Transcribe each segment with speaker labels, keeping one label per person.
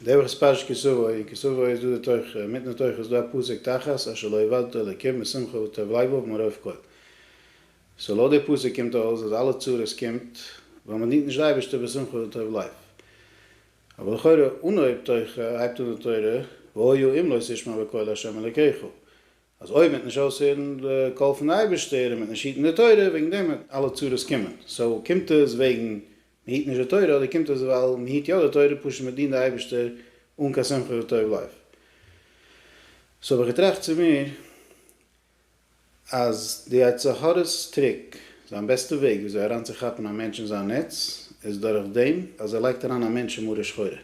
Speaker 1: די וואך איז פרשת כי סבא, אין כי סבא איז דא די תוכחה, און מיטן תוכחה איז דא א פסוק תחת אשר לא יבדתו אלקים משמחה וטוב לבו מרוב כל. סאו לויט די פסוק קומט אויס אז אלע צרות קומט ווייל מען דינט נישט די אייבערשטער בשמחה וטוב לב. אבער לכאורה אנהויב תוכחה הייבט אן די תורה והיה אם לא תשמע בקול ה' אלקיך, אז אויב מען וועט נישט אויסהערן די קול פון די אייבערשטער און מען וועט נישט היטן די תורה וועגן דעם וועט אלע צרות קומען. סאו קומט עס וועגן מען היט נישט די תורה אדער קומט אויס ווייל מען היט יא די תורה פשוט מען דינט די אייבערשטער אן קיין שמחה וטוב לב. סאו האב איך געטראכט צו מיר אז די יצר הרע'ס טריק, זיין בעסטע וועג וויאזוי אריינצוכאפן א מענטש אין זיין נעץ איז דורך דעם אז ער לייגט אריין א מענטש אין מרה שחורה.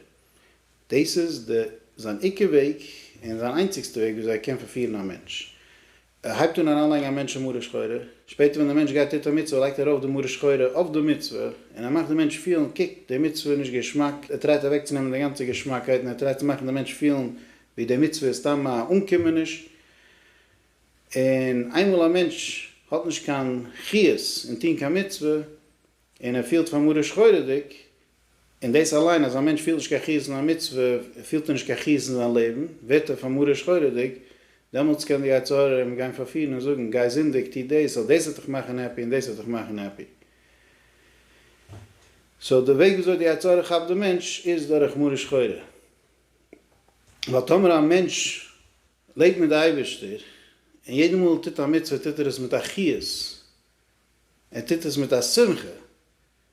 Speaker 1: דאס איז די זיין עיקר וועג און זיין איינציגסטע וועג וויאזוי ער קען פארפירן א מענטש. ער הייבט אן אריינלייגן א מענטש אין מרה שחורה, שפעטער ווען דער מענטש גייט טוט א מצוה לייגט ער ארויף די מרה שחורה אויף די מצוה, און ער מאכט די מענטש פילן קוק די מצוה איז נישט געשמאק, ער טרייט אוועקצונעמען די גאנצע געשמאקייט און ער טרייט צו מאכן די מענטש פילן ווי די מצוה איז סתם א אנקומעניש, און איינמאל א מענטש האט נישט קיין חיות אין טון קיין מצוה און ער פילט פאר מרה שחורה'דיג און דאס אליין אז א מענטש פילט נישט קיין חירות אין א מצוה, פילט ער נישט קיין חירות אין זיין לעבן, ווערט ער פאר מרה שחורה'דיג, דעמאלטס קען די יצר הרע אים גיין פארפירן און זאגן, גיי זינדיג, טו דאס, ווייל דאס וועט דיך מאכן העפי און דאס וועט דיך מאכן העפי. סאו די וועג וויאזוי די יצר הרע כאפט די מענטש איז דורך מרה שחורה. ווייל טאמער א מענטש לעבט מיט די אייבערשטער, און יעדע מאל ער טוט א מצוה טוט ער עס מיט א חיות, ער טוט עס מיט א שמחה,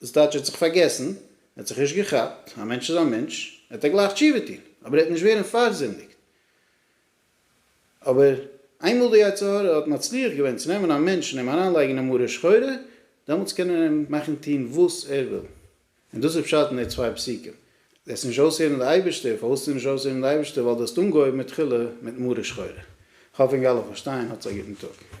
Speaker 1: דאס טייטש ער האט זיך פארגעסן, ער האט זיך נישט געכאפט, א מענטש איז א מענטש, וועט ער גלייך תשובה טון, אבער ער וועט נישט ווערן פארזינדיגט. אבער איינמאל די יצר הרע האט מצליח געווען צו נעמען א מענטש און אים אריינלייגן אין א מרה שחורה, דעמאלטס קען ער אים מאכן טון וואס ער וויל. און דאס איז פשט אין די צוויי פסוקים, וועסט נישט אויסהערן די אייבערשטער, פארוואס וועסטו נישט אויסהערן די אייבערשטער, ווייל דו האסט אנגעהויבן מיט תחילה מיט מרה שחורה. איך האף ענק אלע פארשטייען, האטס א גוטן טאג.